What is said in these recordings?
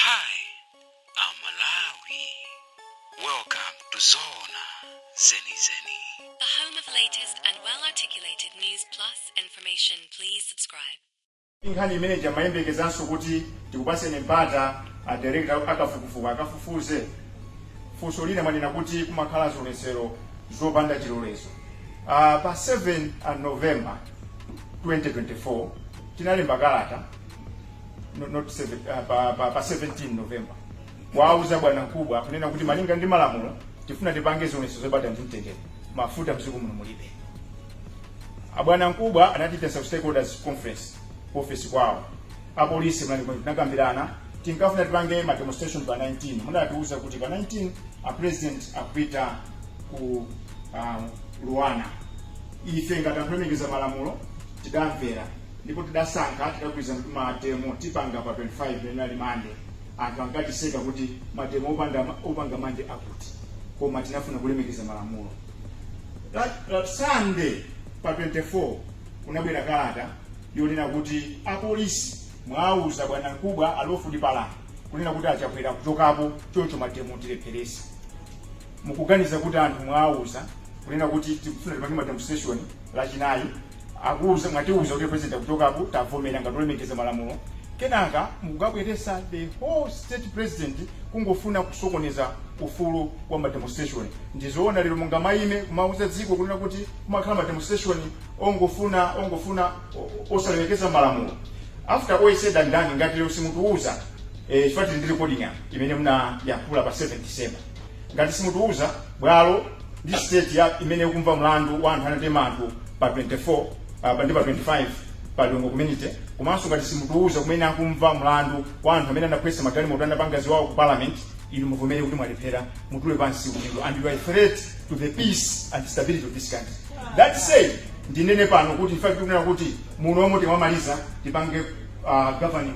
Hi, Malawi. Welcome to Zona Zeni Zeni. The home of latest and well articulated news plus information. Please subscribe. inkhani imene ija amayembekezanso kuti tikupaseni mpata a director akafukufuku akafufuze funso lina munanena kuti kumakhala zionetsero zopanda chilolezo uh, pa 7 a november 2024 tinalemba kalata no, not seven, uh, pa, pa, pa 17 november kuwauza bwanamkubwa kunena kuti malinga ndi malamulo tifuna tipange zionetsero zabata ndi mtendere mafuta mdziko muno mulibe abwanamkubwa anatiitanitsa ku stakeholders conference ku office kwawo apolisi munalimo tinakambirana tinkafuna tipange ma demonstration pa 19 munatiuza kuti pa 19 a president akupita ku um, luanar ife ngati anthu olemekeza malamulo tidamvera ndipo tidasankha tidagwirizana kuti mademo tipanga pa 25 imene ali mande anthu ankatiseka kuti mademo opanda opanga mande akuti koma tinafuna kulemekeza malamulo that, that sunday pa 24 kunabwera kalata yonena kuti apolisi mwauza bwanamkubwa a lawford palani kunena kuti achakwera akuchokapo choncho mademo tilepherese mukuganiza kuti anthu mwauza kunena kuti tikufuna tipange mademonstration lachinayi Akuuza mwatiuza kuti president akuchokapo tavomera ngati olemekeza malamulo kenaka mukukabweresa the whole state president kungofuna kusokoneza ufulu wa ma demonstration ndizoona lero mungamaime kumauza dziko kunena kuti kumakhala ma demonstration ongofuna ongofuna osalemekeza malamulo after all said and done ngati lero simutiwuza chifukwa tili ndi recording apa imene munayankhula pa 7 December Ngati simutiuza, bwalo ndi siteshoni imene ikumva mlandu wa anthu anatema anthu pa 24 apa ndi pa 25 pa Lilongwe community komanso ngati simutiuza kumene akumva mlandu wa anthu amene anaphwanya magalimoto anapanga ziwawa ku parliament inu muvomere kuti mwalephera mutule pansi udindo and you are a threat to the peace and stability of this country that said ndinene pano kuti ife tikunena kuti muno omwe timamaliza tipange uh, governing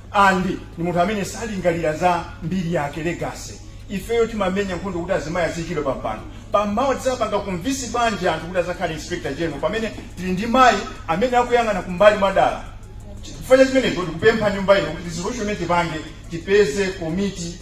And ndi munthu amene salingalira za mbiri yake, legacy. Ifeyo timamenya nkhondo kuti azimayi aziikidwa pa mpando. Pano mawa tidzapanga convince bwanji anthu kuti adzakhale Inspector General pamene tili ndi mayi amene akuyang'ana kumbali mwadala? Chifukwa cha chimenecho, tikupempha nyumba ino kuti resolution imene tipange tipeze komiti.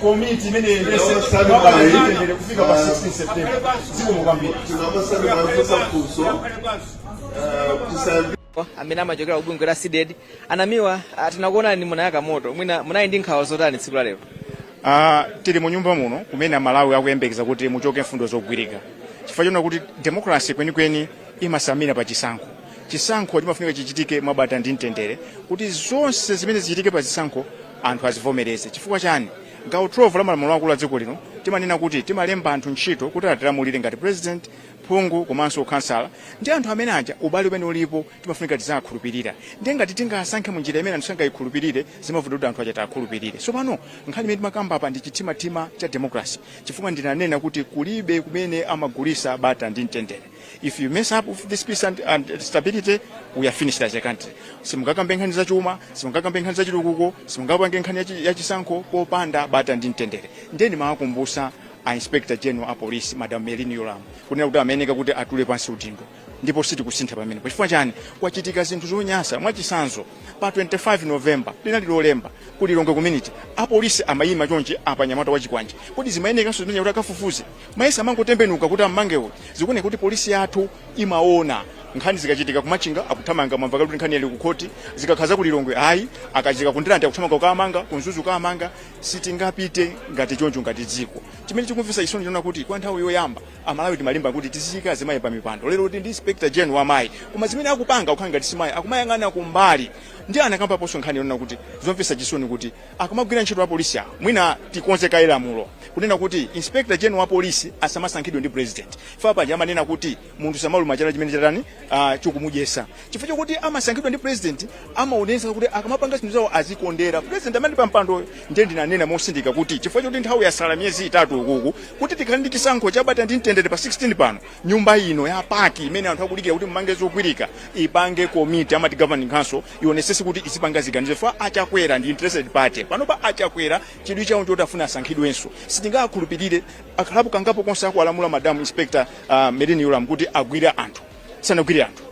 komiti imene iyendese mwabata ndi mtendere kufika pa 16 september zikomo kwambiri amene amachokera ku bungwe la cdedi a namiwa ah, tinakuonani munayaka moto mwina munali ndi nkhawa zotani tsiku la lero Ah, tili mu nyumba muno kumene amalawi akuyembekeza kuti muchoke mfundo zogwirika chifukwa chonena kuti demokrasi kwenikweni imasamira pa chisankho chisankho chimafunika chichitike mwabata ndi mtendere kuti zonse zimene zichitike pa chisankho anthu azivomereze. Chifukwa chani? Gawo 12 la malamulo akulu a dziko lino timanena kuti timalemba anthu ntchito kuti atilamulire ngati president, phungu komanso ukhansala. Ndi anthu amene aja ubale umene ulipo timafunika tiziakhulupirira. Ndiye ngati tingasankhe mu njira imene anthu sangayikhulupirire zimavuta kuti anthu aja tiakhulupirire. So pano nkhani imene timakamba apa ndi chimtimamtima cha democracy chifukwa ndinanena kuti kulibe kumene amagulisa bata ndi mtendere. if you mess up with this peace and, and stability we are finished as a country simungakambe nkhani za chuma simungakambe nkhani za chitukuko simungapange nkhani ya chi- ya chisankho popanda bata ndi mtendere nde nimawakumbusa a inspector general a police madam merlyne yolamu kunena kuti amayeneka kuti atule pansi udindo ndipo sitikusintha pamenepa chifukwa chani kwachitika zinthu zonyasa mwachitsanzo pa 25 november linali lolemba ku lilongwe community apolisi amayima chonchi apa anyamata achikwanje kodi zimayenekanso zimenezo kuti akafufuze amayenera kumangotembenuka kuti ammange uyu zikuoneka kuti polisi yathu imaona nkhani zikachitika kumachinga akuthamanga mwamva kuti nkhani ili kukhoti zikakhudza ku lilongwe ayi akachitika kundirande akuthamanga kukamanga kumzuzu akamanga sitingapite ngati choncho ngati dziko chimene chikumvesa chisoni nchonena kuti kwa nthawi yoyamba amalawi timalimba kuti tiziika azimayi pa mipando lero kuti ndi inspector general wa mayi koma zimene akupanga kukhala ngati simayi akumayang'ana kumbali ndinakambaponso nkhani yonena kuti zomvesa chisoni kuti akamagwira ntchito apolisi awo mwina tikonze kaye lamulo kunena kuti inspector general wa polisi asamasankhidwe ndi president chifukwa paja amanena kuti munthu samaluma chala chimene chatani ah, chikumudyesa chifukwa chokuti amasankhidwa ndi president amaonesa kuti akamapanga zinthu zawo azikondera president amene ali pa mpandoyo ndiye ndinanena mosindika kuti chifukwa choti nthawi yasala miyezi itatu ukuku kuti tikhale ndi chisankho chabata ndi mtendere pa 16 pano nyumba ino ya PAC imene anthu akudikira kuti mumange zogwirika ipange komiti amati governing council ionesese kuti izipanga ziganizo chifukwa achakwera ndi interested party panopa achakwera chidwi chawo choti afuna asankhidwenso sitingakhulupirire akhalapo kangapo konse akuwalamula madam inspector uh, merlyne yolamu kuti agwire anthu sanagwire anthu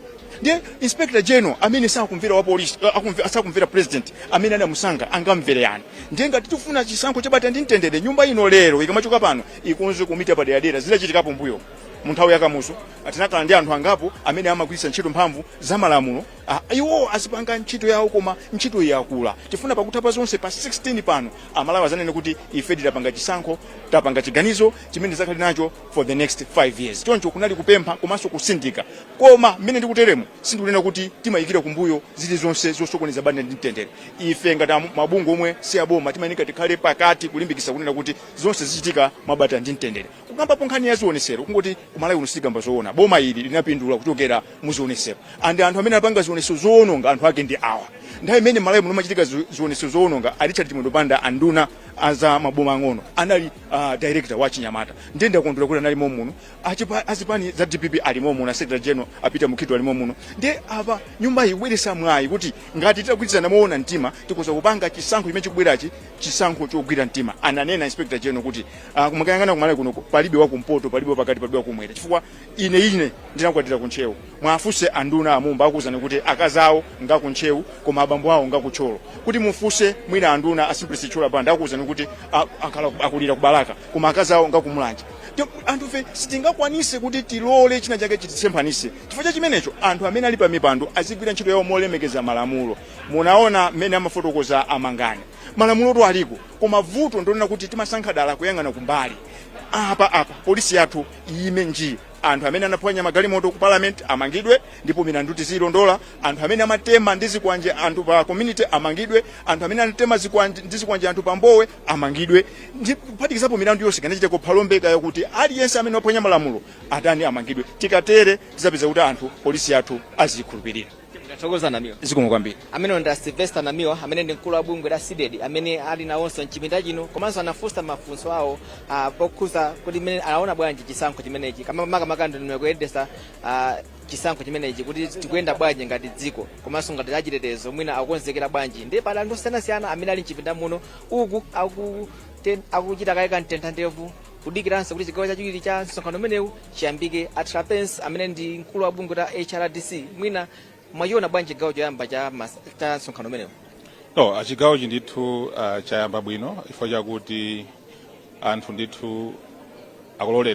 ndiye inspector general amene sakumvera wa police uh, akumve- sakumvera president amene anamusankha angamvere yani ndiye ngati tifuna chisankho chabata ndi mtendere nyumba ino lero ikamachoka pano ikonze komiti yapaderadera zidachitikapo mbuyo munthawi yakamuzu tinakhala ndi anthu angapo amene amagwiritsa ntchito mphamvu za malamulo a iwo azipanga ntchito yawo koma ntchito yakula tifuna pakutha pa zonse pa 16 pano amalawi azanene kuti ife tidapanga chisankho tapanga chiganizo chimene tizakhale nacho for the next 5 years choncho kunali kupempha komanso kusindika koma mmene ndikuteremo sindikunena kuti timayikira kumbuyo zilizonse zosokoneza bata ndi mtendere ife ngati amu- mabungwe omwe si aboma timayeneka tikhale pakati kulimbikitsa kunena kuti zonse zichitike mwabata ndi mtendere kukambapo nkhani ya zionesero kungoti kumalawi uno sitikamba zoona boma ili linapindula kuchokera mu zionesero and anthu amene anapanga zionesero zoononga anthu ake ndi awa nthawi imene malawi muno machitika zi- zionesero zoononga a richard chimwendo banda anduna aza maboma ang'ono anali uh, director wa chinyamata ndiye ndakondwera kuti anali momuno Achipa- azipani za dpp ali momuno secretary general apita mukhito ali momuno ndiye apa nyumba iyi ibweresa mwayi kuti ngati titagwirizana moona mtima tikhoza kupanga chisankho chimene chikubwerachi chisankho chogwira mtima ananena inspector general kuti uh, kumakayang'ana kumalawi kuno palibe wakumpoto palibe wapakati palibe wakumwera chifukwa ine ine ndinakwatira kuntcheu mwafunse anduna amumba akuwuzani kuti akazi awo ngakuntcheu koma abambo awo ngakuthyolo kuti mufunse mwina anduna asimplex chithyola banda akuwuzani kuti a- akhala akulira kubalaka koma akazi awo ngakumulanje Ndiye, anthufe sitingakwanise kuti tilole china chake chititsemphanise chifukwa cha chimenecho anthu amene ali pa mipando azigwira ntchito yawo molemekeza malamulo Munaona mmene amafotokoza a Mangani. Malamulotu aliko koma vuto ndilonena kuti timasankha dala kuyang'ana kumbali. Apa apa polisi yathu iyime nji. Anthu amene anaphwanya magalimoto ku parliament amangidwe ndipo milandu tiziyilondola. Anthu amene amatema ndi zikwanje anthu pa community amangidwe. Anthu amene anatema zikwanje ndi zikwanje anthu pa Mbowe amangidwe. Ndi kuphatikizapo milandu yonse kaya inachitika ku Phalombe kaya kuti aliyense amene waphwanya malamulo atani amangidwe. Tikatere tizapeza kuti anthu polisi yathu aziyikhulupirira. tikathokoza namiwa zikomo kwambiri amene ndi a sylvester namiwa amene ndi mkulu wa bungwe la cdedi amene ali nawonso mchipinda chino komanso anafunsa mafunso awo ah, pokhuza kuti mmene anaona bwanji chisankho chimenechi koma makamaka ndondomeko yoyendesa ah, chisankho chimenechi kuti tikuyenda bwanji ngati dziko komanso ngati achitetezo mwina akukonzekera bwanji ndiye pali anthu osiyanasiyana amene ali mchipinda muno uku aku ten- akuchita kaye kamtentha ndevu kudikiranso kuti chigawo chachiwiri cha msonkhano umenewu chiyambike a trapence amene ndi mkulu wa bungwe la hrdc mwina mwachiona bwanji chigawo choyamba cha mas- cha msonkhano umenewu no chigawochi ndithu ah, chayamba bwino chifukwa chakuti anthu ndithu akuloledwa